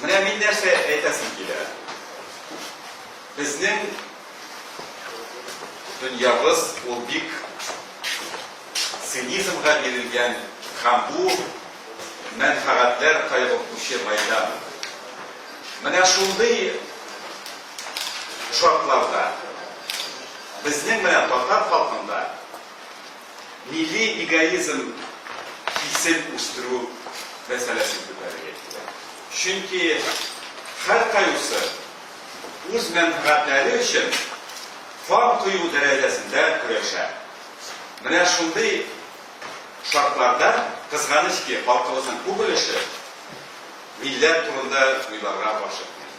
Менә мин нәрсә әйтәсем килә. Безнең дөньябыз ул бик цинизмга бирелгән һәм бу мәнфәгатьләр кайгыртучы майдан. Менә шундый шартларда безнең менә татар халкында милли эгоизм хисен үстерү мәсьәләсен күтәрергә кирәк. Чөнки һәркайусы үз мәнфгатьләре өчен кан кою дәрәҗәсендә көрәшә. Менә шундый шартларда, кызганыч ки, халкыбызның күп өлеше милләт турында уйларга ашыкмый.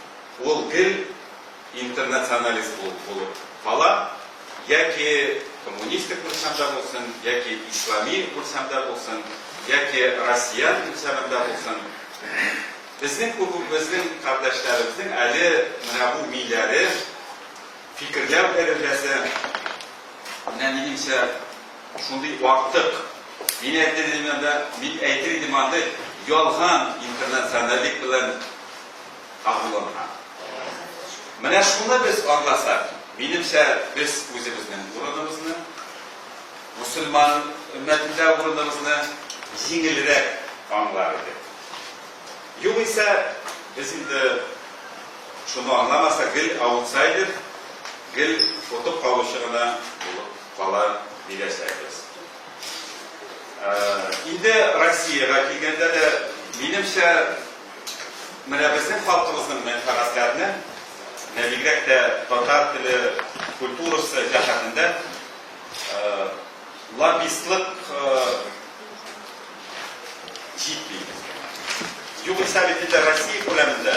Ул гел интернационалист булып кала, Яки коммунистик үлчәмдә булсын, яки ислами үлчәмдә булсын, яки россиян үлчәмендә булсын, безнең күбебезнең кардәшләребезнең әле менә бу миләре, фикерләү дәрәҗәсе, менә минемчә, шундый артык. Мин әйтер идем анда, мин әйтер идем андый, ялган интернационаллек белән, агуланга. Менә шуны без аңласак, минемчә, без үзебезнең урыныбызны, мөселман өммәтендә урыныбызны җиңелрәк аңлар идек. Югыйсә, без инде шуны аңламасак, гел аутсайдер, гел отып калучы гына булып кала бирәчәкбез. Инде Россиягә килгәндә дә, минемчә, Менә безнең халкыбызның мәнфәгатьләрне, менә бигрәк тә татар теле, культурасы җәһәтендә лоббистлык җитми. Югыйсә бит инде Россия күләмендә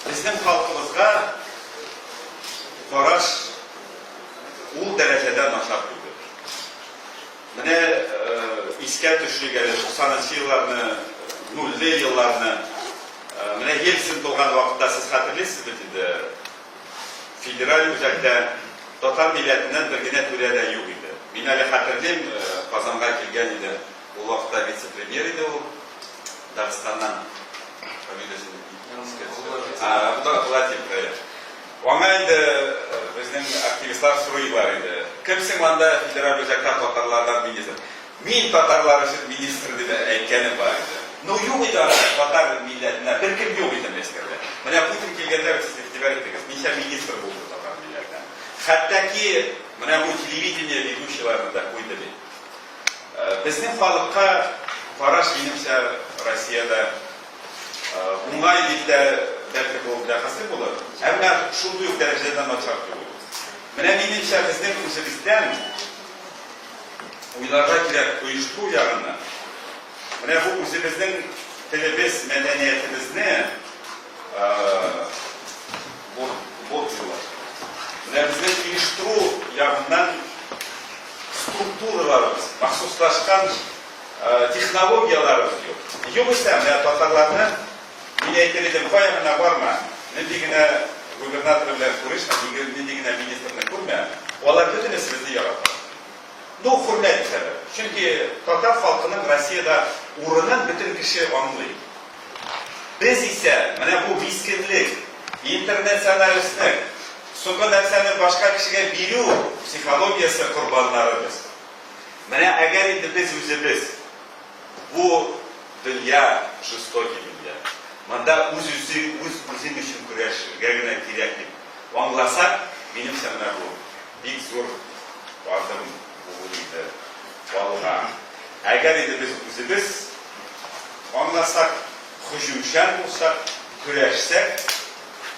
безнең халкыбызга караш ул дәрәҗәдә начар түгел. Менә искә төшик әле туксанынчы елларны, нульле елларны. Менә Ельцин булган вакытта сез хәтерлисез бит инде, федераль үзәктә татар милләтеннән бер генә түрә дә юк иде. Мин әле хәтерлим, Казанга килгән идем, ул вакытта вице-премьер иде ул, Дагыстаннан, фамилиясен искә төшерәм. Владимир, әйе. Аңа инде безнең активистлар сорыйлар иде, кем син анда федераль үзәктә татарлардан министр? Мин татарлар өчен министр дип әйткәнем бар иде. Ну юк иде анда татар милләтеннән беркем юк иде Мәскәүдә. Менә Путин килгәндә сез игътибар иттегез, ничә министр булды татар милләтеннән. Хәтта ки менә бу телевидение ведущийларын да куйды бит. Безнең халыкка караш минемчә Россиядә. Уңай дип тә, бәлки, бу бәхәсле булыр, әмма шундый ук дәрәҗәдә дә начар түгел. Менә минемчә, безнең үзебездән уйларга кирәк оештыру ягыннан. Менә бу үзебезнең телебез, мәдәниятебезне борчулар. Менә безнең оештыру ягыннан структураларыбыз, махсуслашкан Технологияләребез юк. Югыйсә, менә татарларны, мин әйтер идем, кая гына барма, нинди генә губернатор белән күрешмә, нинди генә министрны күрмә, алар бөтенесе безне ярата. Ну, хөрмәт итәләр. Чөнки татар халкының Россиядә урынын бөтен кеше аңлый. Без исә менә бу мискенлек, интернационалистлек, сукы нәрсәне башка кешегә бирү психологиясе корбаннары без. Менә әгәр инде без үзебез, бу дөнья жестокий дөнья, монда үз-үзе, үз-үзең өчен көрәшергә генә кирәк дип аңласак, минемчә, менә бу бик зур адым булыр иде алга. Әгәр инде без үзебез аңласак, һөҗүмчән булсак, көрәшсәк,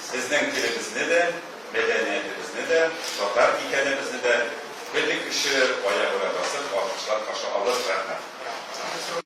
Безнең телебезне дә, мәдәниятебезне дә, татар икәнебезне дә бөтен кеше аягүрә басып, алкышлап каршы алыр. Рәхмәт.